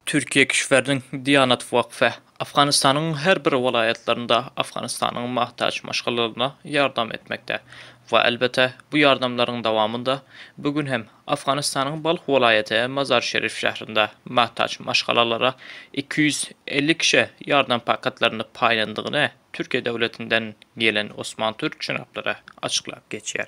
Türkiýe kişwäriniň Diýanat wakfy Afganystanyň her bir welaýatlarynda Afganystanyň mahtaç maşgalalaryna ýardam etmekde we elbete bu ýardamlaryň dawamynda bu gün hem Afganystanyň Balh welaýaty Mazar Şerif şährinde mahtaç maşgalalara iki ýüz elli kişä ýardam paketlerini paýlandygyny Türkiýe döwletinden gelen Osman Türk jenaplary açyklap geçýär.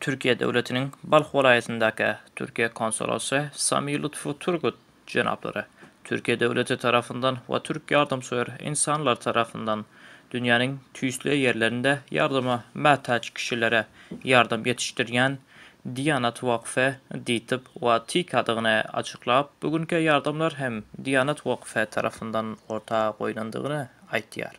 Türkiýe döwletiniň Balh welaýatyndaky Türkiýe konsulasy Sami Lutfu Turgut jenaplary Türkiýe döwleti tarapyndan we türk ýardamsöýer ynsanlar tarapyndan dünýäniň tüýsli ýerlerinde ýardama mätäç kişilere ýardam ýetişdirýän Diýanat wakfy diýtip we TK-dygyny açyklap, bu günki ýardamlar hem Diýanat wakfy tarapyndan orta goýlandygyny aýtýar.